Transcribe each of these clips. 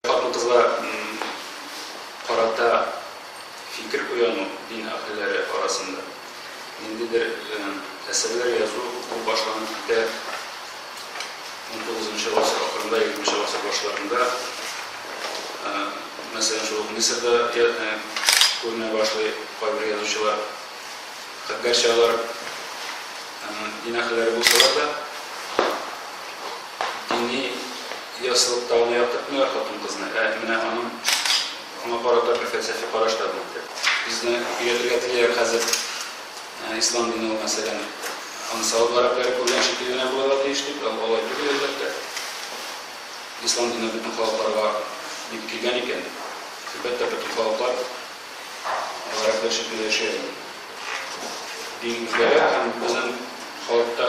Хатын-кызга карата фикер уяну дин әһелләре арасында ниндидер әсәрләр язу бу башланып китә унтугызынчы гасыр ахырында, егерменче гасыр башларында. Мәсәлән, шул ук Мисырда күренә башлый кайбер язучылар. Гәрчә алар дин әһелләре булсалар да. Дини ясылыкта ул яктыртмыйлар хатын-кызны, ә менә аның аңа карата бер фәлсәфи караш та булды. Безне өйрәтергә телиләр хәзер ислам дине ул, мәсәлән, аны сауб гарәпләре күргән шикелле генә булырга тиеш дип, ә ул алай түгел, әлбәттә. Ислам дине бөтен халыкларга дип килгән икән, әлбәттә, бөтен халыклар гарәпләр шикелле яши алмый. Дин үзгәрә һәм безнең халыкта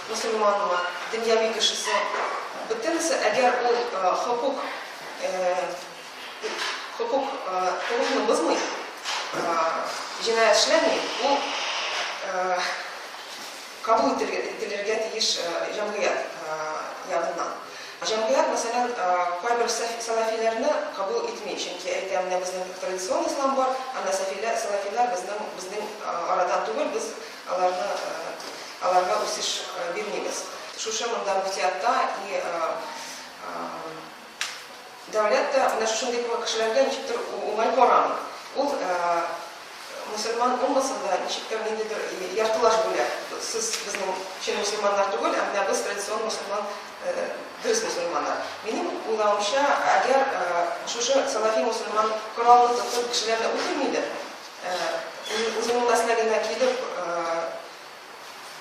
Мөселманмы, дөньяви кешесе, бөтенесе, әгәр ул хокук, хокук, хокукны бозмый, җинаять эшләми, ул кабул ителергә тиеш җәмгыять ягыннан. Җәмгыять, мәсәлән, кайбер сәләфиләрне кабул итми, чөнки әйтә, менә безнең традицион ислам бар, анда сәфиләр, сәләфиләр безнең, безнең арадан түгел, без Аларны, аларга үсеш бирмибез. Шушы монда Гусиатта и дәүләт тә менә шушындый кешеләргә ничектер уңай карамый. Ул мусульман уммасын да ничектер ниндидер яртылаш бүлә. Сез безнең чын мусульманнар түгел, ә менә без традицион мусульман, дөрес мусульманнар. Минем уйлавымча, әгәр шушы салафи мусульман коралны тотып кешеләрне үтерми дә, Үзеңнең мәсләгеңә килеп,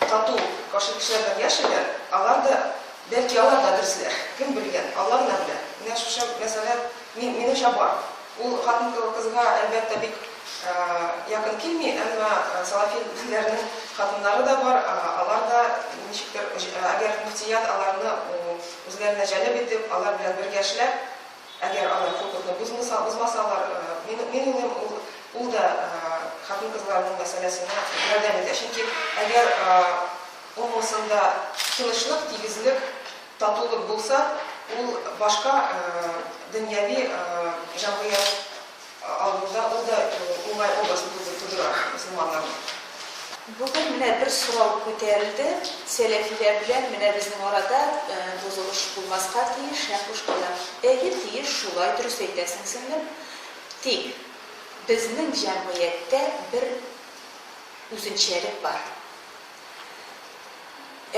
тату, каршы кешеләр белән яшиләр, алар да, бәлки, алар да дөресләр, кем белгән, Алла гына белә. Менә шушы мәсьәлә мин, минемчә бар. Ул хатын кызга, әлбәттә, бик якын килми, әмма салафи диннәрнең хатыннары да бар, алар да ничектер, әгәр мөфтият аларны үзләренә җәлеп итеп, алар белән бергә эшләп, Әгәр алар хокукны бозмаса, бозмасалар, мин, мин уйлыйм, ул, ул да хатын-кызларның мәсьәләсенә ярдәм итә. Чөнки әгәр уммасында тынычлык, тигезлек, татулык булса, ул башка дөньяви җәмгыять Авылда ул да уңай образны тудыра мөселманнарның. Бүген менә бер сорау күтәрелде, сәләфиләр белән менә безнең арада бозылыш булмаска тиеш һәм бушкала. Әйе, тиеш, шулай, дөрес әйтәсең, сеңлем. Тик безнең җәмгыятьтә бер үзенчәлек бар.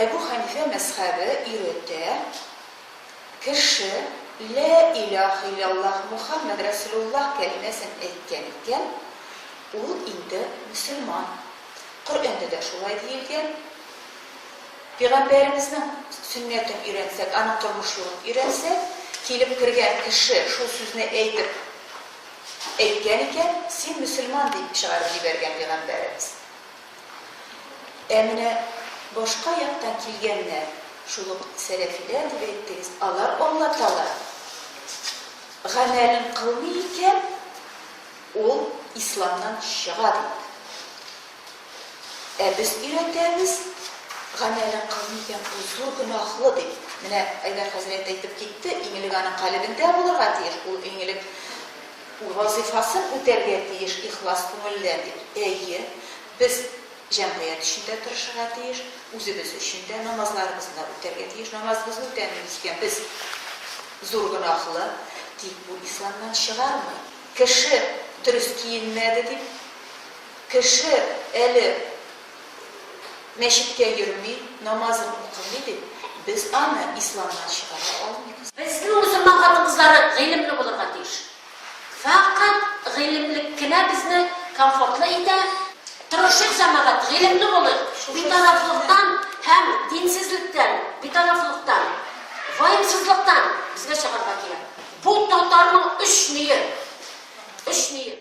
Әбү Хәнифә мәзхәбе өйрәтә, Кеше Лә иләһ иләллаһ Мухәммәд рәсүлуллаһ кәлимәсен әйткән икән, ул инде мөселман. Коръәндә дә шулай диелгән. Пигамбәребезнең сөннәтен өйрәнсәк, аның тормыш юлын өйрәнсәк, килеп кергән кеше шул сүзне әйтеп әйткән икән, син мөселман дип чыгарып җибәргән пигамбәребез. Ә менә башка яктан килгәннәр, шул ук сәләфиләр дип әйттегез, алар Алла Тәгалә гамәлен кылмый икән, ул исламнан чыга бит. Ә без өйрәтәбез, гамәлен кылмый икән, ул зур гөнаһлы дип. Менә Айдар хәзрәт әйтеп китте, иң элек аның калебендә булырга тиеш, ул иң элек Ул вазыйфасын үтәргә тиеш ихлас күңелдән дип. Әйе, без җәмгыять өчен дә тырышырга тиеш, үзебез өчен дә намазларыбызны да үтәргә тиеш. Намазыбызны үтәмибез икән, без зур гөнаһлы. Тик бу исламнан чыгармый. Кеше дөрес киенмәде дип, кеше әле мәчеткә йөрми, намазын укымый дип, без аны исламнан чыгара алмыйбыз. Безнең мөселман хатын-кызлары гыйлемле булырга тиеш. Фәкать гыйлемлек кенә безне комфортлы итә. Тырышыйк, җәмәгать, гыйлемле булыйк, битарафлыктан һәм динсезлектән, битарафлыктан, ваемсызлыктан безгә чыгарга кирәк. Бу татарның өч ние, өч ние.